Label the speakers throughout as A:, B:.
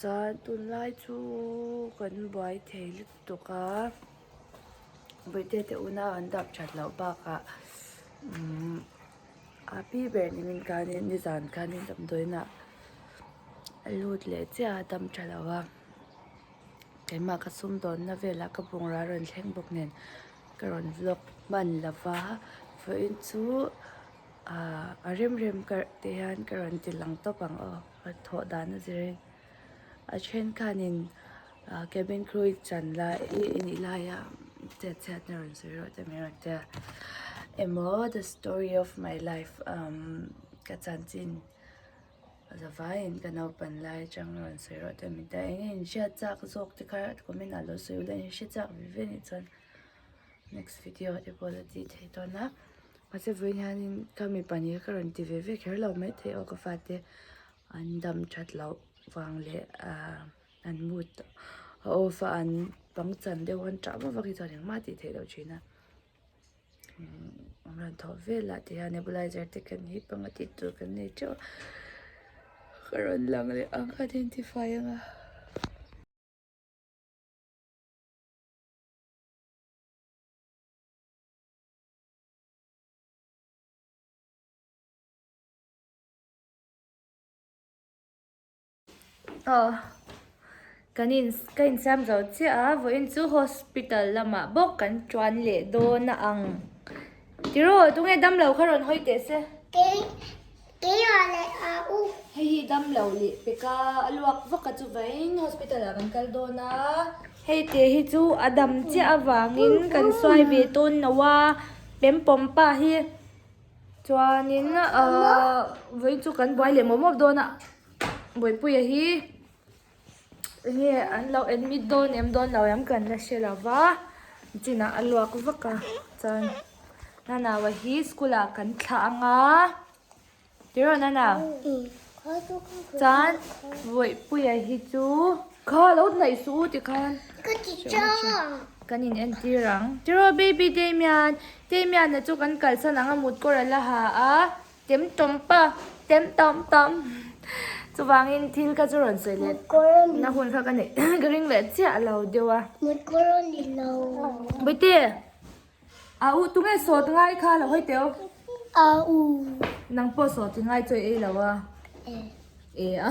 A: Chuan tunlai chu kan buai thei lutuk a, birthday te una an dap that loh bakah umm happy birthday min kanin nizan kanin damdawiinah a lut leh chiah a, a dam tha lo a, keimah ka sumdawnna velah ka bungrau a rawn thleng bawk nen ka rawn vlog hman lo va, vawiin chu ahh a remrem karh te hian ka rawn ti lang tawp ang aw. A thawh dan a zir in a then khan in cabin crew i chan lai i nih lai a chet chhiat na rawn sawi rawh tih mai a rawn ti a emaw the story of my life umm ka chan chin za vai in ka naupan lai atang a rawn sawi rawh tih a min ti a eng nge in hriat chak zawk te kha comment ah lo sawi ula in hre chak ve ve a nih chuan. next video te pawh la tih thei tawn a mahse vawiin hianin ka mi pahnih hi ka rawn ti ve ve kher lo mai thei aw ka fate an dam that loh vang leh ah an mood a off a an pang chan deuh a an tah vak vak hi chuan engmah tih theih loh thin a an rawn thawh vel a tihian nebulizer te kan hi panga tih tur kan nei teuh a ka rawn lang leh ang ka identify anga. Aww kan in ka in siam zo chiah a vawiin chu hospital lamah bawk kan tuan leh dawn a ang tiraw tunge damlo kha rawn hawi teh se.
B: Kei ah leh a u. Hei hi dam lo
A: leh pek a, a luak vak a chuvaiin hospital ah kan kal dawn a. Hei te hi chu a dam chiah avangin kan suai ve tawn no a, Pempom pa hi chuanin ahh vawi chu kan buai leh mawp mawp dawn a, Bawipuia hi. Enge an lo admit dawn em dawn lo em kan la hre lo va, chinah a luak vak a chuan Nana va hi school ah kan thlah ang a tiraw Nana? Chuan Vawipuia hi chu kha lo hnaih suh u ti khan ka ti chang
B: kan in
A: entir ang tiraw baby Damian, Damian-a chu kan kalsan ang a mut kawr a la ha a Tem tawm pa, tem tawm tawm. Chuvangin thil kha chu rawn sawi let. Na hun kha ka neih ka ring leh chiah lo deuh a.
B: Bawihtê,
A: a u tu nge sawt ngai kha la hawi teuh? A u.
B: Nang
A: pawh sawt i ngai chawi ei lo a. E. E a.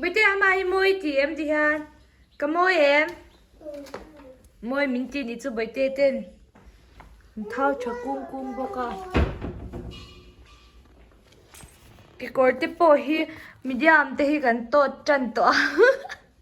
B: Buti ama hi
A: mawi ti em ti hian ka mawi em mawi min ti ni chu Buti ten min thau tha kung kung bawk a kekawr te pawh hi medium te hi kan tawt tan tawh a.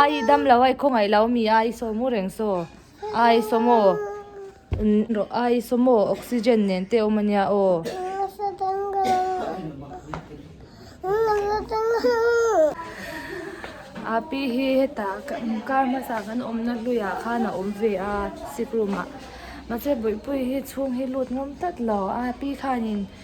A: Aii i dam lo a, i khaw ngaih lo mi a, i sawm u reng saw. Aii i sawm aw. Rawh aii i sawm aw, oxygen nen te awm a nia aw. Api hi heta kar hmasa kan awmna hluiah khan a awm ve a, sick room ah. Mahse buaipui hi chhung hi lut ngawm tlat lo. Api khanin.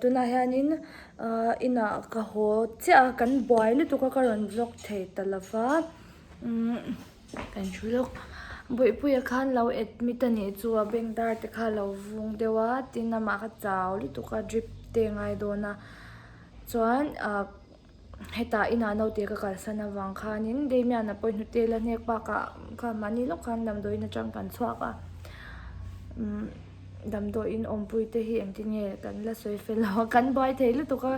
A: Tunah hianin inah ka haw chiah a, kan buai lutuk a, ka rawn vlog thei ta lo va, kan hrui lawk. Bawihpuia khan lo admit a nih chu a bank dar te kha a lo vung deuh a, tin amah kha chau lutuk a, drip te a ngai dawn a, chuan. Hetah inah naute ka kalsan avang khanin Damian-a pawh i hnutel a, hnek bakah kha mahni lawk khan damdawiin atang kan chhuak a, umm damdawiin awmpui te hi engtin nge kan la sawi fel lo a, kan buai thei lutuk a,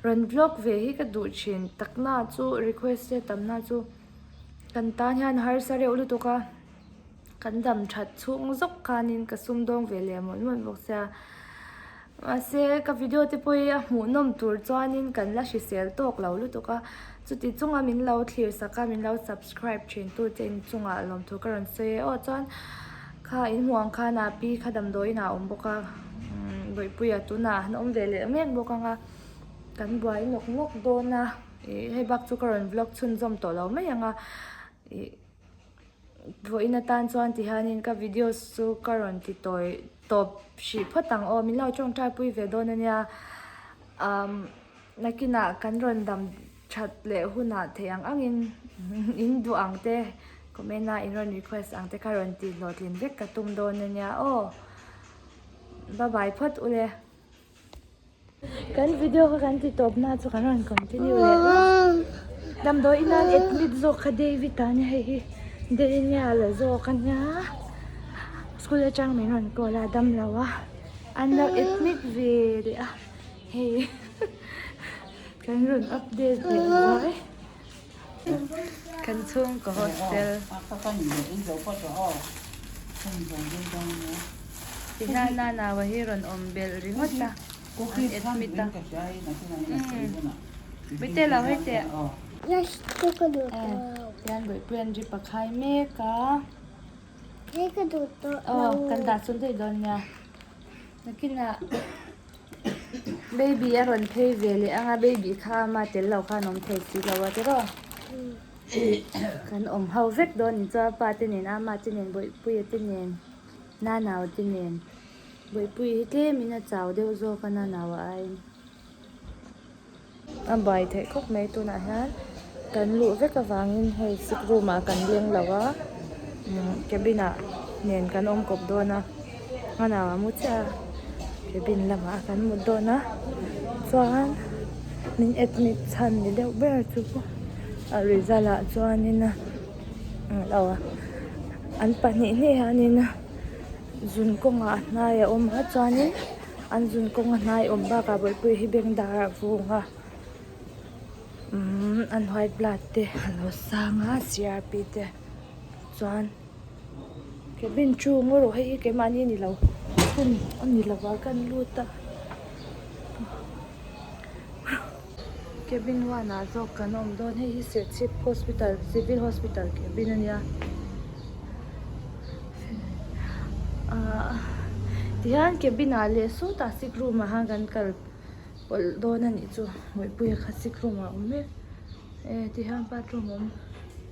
A: rawn vlog ve hi ka duh thin, takna chu request chetamna chu kan tan hian harsa reuh lutuk a. Kan dam that chhung zawk khanin ka sumdawng ve leh mawlh mawlh bawk sia. Mahse, ka video te pawh hi a hmuh nawm tur chuanin kan la hrisel tawk lo lutuk a. Chuti chunga min lo thlirsak a, min lo subscribe thintu te inchungah lawmthu ka rawn sawi e. Aw chuan kha in hmuh ang khan a pi kha damdawiinah a awm bawk a, Bawihpuia tunah an awm ve leh mek bawk ang a, kan buai nawk nawk dawn a. Ih, hei bak chu ka rawn vlog chhunzawm tawh lo mai ang a. Ih. Thawihin atan chuan tihianin ka videos chu ka rawn ti tawi tawp hrih phawt ang aw, min lo tawngtaipui ve dawn a nia. Umm nakinah kan rawn dam that leh hunah theih ang angin in duh ang te, comment a in rawn request ang te kha rawn tih hlawhtlin vek ka tum dawn a nia aw. Bye bye phawt ule. Kan video kha kan ti tawp na chu kan rawn continue leh a. Damdawi ina admit zawk kha David a nia hei hi Daniel zawk a nia. School atang min rawn call a dam lo a an lo admit ve leh a hei kan rawn update ve vai. Kan chhung ka hostel. I hla nanau a hi rawn awm belh ringawt a, an admit a. Mite lo hei teh.
B: Hian Bawihpuia'n
A: rip a khai mek a.
B: Kan dah chhun daih
A: dawn nia. Nakinah. Baby a rawn phei ve leh anga baby kha ama tel lo khan awm thei si lo a tiraw kan awm ho vek dawn in chuan pa te nen ama te nen bawihpuia te nen nanau te nen bawihpui hi tlemin a chau deuh zawk a nanau a aiin. A bai theih khawp mai tunah hian kan luh vek avangin hei sick room ah kan leng lo a cabin ah nen kan awm kawp dawn a hmanah a mu chiah a cabin lamah kan mut dawn a chuan min admit chhan ni deuh ber chu a result ah chuanin a an pahnih hneh hianin zun kawngah a hnai a awm a chuanin-- An zun kawnga hnaiawm bakah bawlhpui hi bank dar a vung a umm an white blood te a lo sang a crp te chuan cabin chhung erawh hei hi keimahni ni lo hun a ni lo a kan lut a. Cabin one ah zawk kan awm dawn. Hei hi Serchhip Hospital Civil Hospital cabin a nia ahh tihian cabin ah leh saw tah sick room ah han kan kal pawlh dawn a nih chu Mawihpuia kha sick room ah a awm e tihian bathroom awm.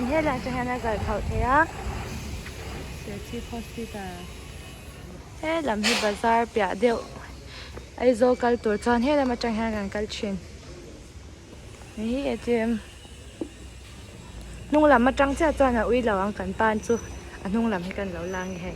A: Ni hei laiah chuan hian a zal thauh thei a. Sehchhip Hospital he lam hi bazar piah deuh Aizawl kal tur chuan he lam atang hian kan kal thin. Ni hi atm hnunglam atang chiah chuan a ui lo ang kan pan chu a hnunglam hi kan lo la nge hei.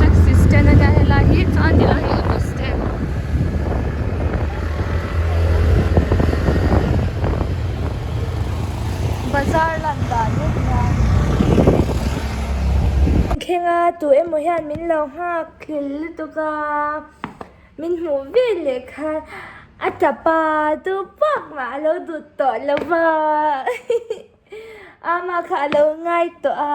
A: taxi stand a nia helai hi chuan ti lai hi auto stand bazar lan dan mek nia thlenga tu emaw hian min lo nghak thlel lutuk a min hmuh vel leh khan a tapa chu pawp mah alo dut tawh lova ama kha alo ngai tawh a.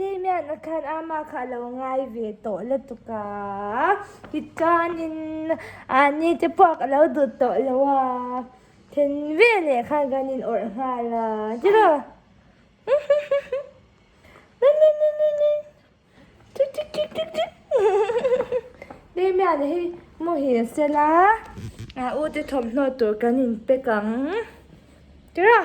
A: Damian-a khan ama kha a lo ngai ve tawh lutuk a, tichuanin ahh ni te pawh ka lo dut tawh lo a, then veleh khan kan inawrh nghal a, tiraw? Damian-a hi maw hi a sel a, ute thawmhnaw tur kan inpack ang, tiraw?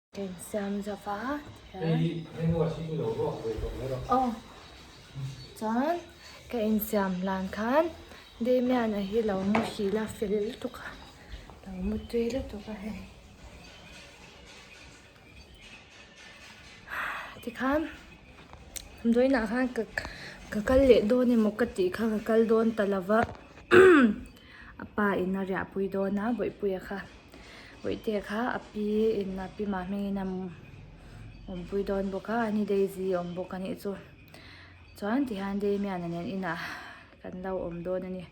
A: Kan siam zo va, aw chuan ka insiam hlan khan Damian a hi lo mu hri la fel lutuk a, lo mu tui lutuk a hei. Tikhan Dawina khan ka kal leh dawn emaw ka tih kha ka kal dawn ta lova. A pa in a riahpui dawn a, Vawipuia kha. Vawitea kha a pi in, a pi mah hmingin a awmpui dawn bawk a, a ni Daisy a awm bawk a nih chu. Chuan tihian Damian-a nen inah kan lo awm dawn a ni.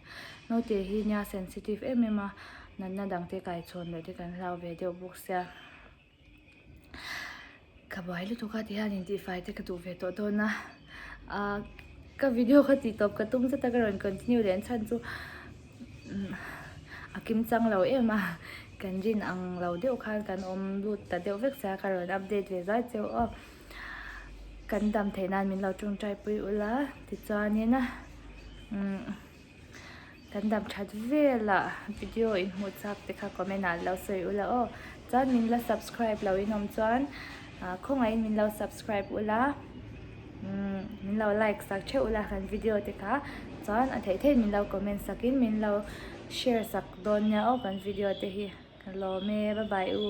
A: Naute hi nia sensitive em em a, natna dangte kaichhawn leh te kan hlau ve deuh bawk sia. Ka buai lutuk a ti hian in tih fai te ka duh ve tawh dawn a ahh ka video ka tih tawp ka tum zet a ka rawn continue leh chhan chu a kim chang lo em a kan zin ang lo deuh khan kan awm lut ta deuh vek sia ka rawn update ve zai che aw kan dam thei nan min lo tungtai pui ula tichuan in umm. Kan dam that vela video in hmuh chak te kha comment ah lo sawi u la aw. Chuan min la subscribe lo in awm chuan khawngah in min lo subscribe u la umm min lo like sak theuh u la han video te kha chuan a theih theih in min lo comment sak in min lo share sak dawn nia aw kan video te hi ka lawm e bye bye u.